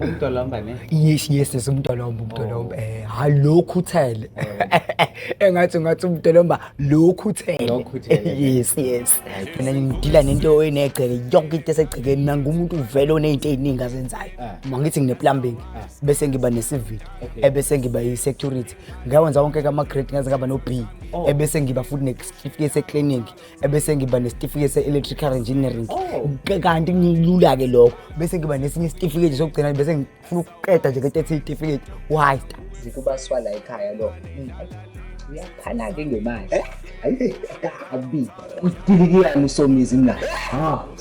umdolomba ne yes yes yes umdolomba umdolomba oh. eh hayi lokhu uthele oh. engathi ngathi umdolomba lokhu uthele lokhu uthele yes yes mina ngidila nento oyinegceke yonke into esegcekeni nangu umuntu uvele onezinto eziningi azenzayo ah. mangithi ngine plumbing ah. bese ngiba ne civil ebese eh, ngiba i security ngawenza wonke kama-grade ngaze ngaba no-b oh. ebese ngiba futhi nesitifiketi se-clinic ebese ngiba nesitifiketi se-electrical engineering oh. kanti ngilula-ke lokho bese ngiba nesinye isitifiketi sokugcina bese ngifuna ukuqeda nje ngetethi isitifiketi why ngikubaswala ekhaya lo uyaphana-ke ngemali eh? ayi akubi udilikiyani usomizi mna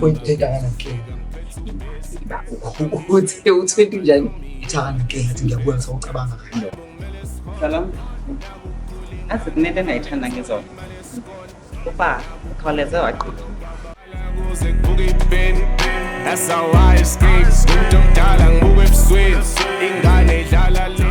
Uyibheka kanakela. Uthi uthwenti njani? Ithaka nakela athi ngiyabuya ngisawucabanga kahle. Salam. Athi kunento engayithanda ngizona. Uba ukhawuleze waqhuba. That's how I escape. Umuntu omdala ngibuka ebusweni. Ingane idlala le.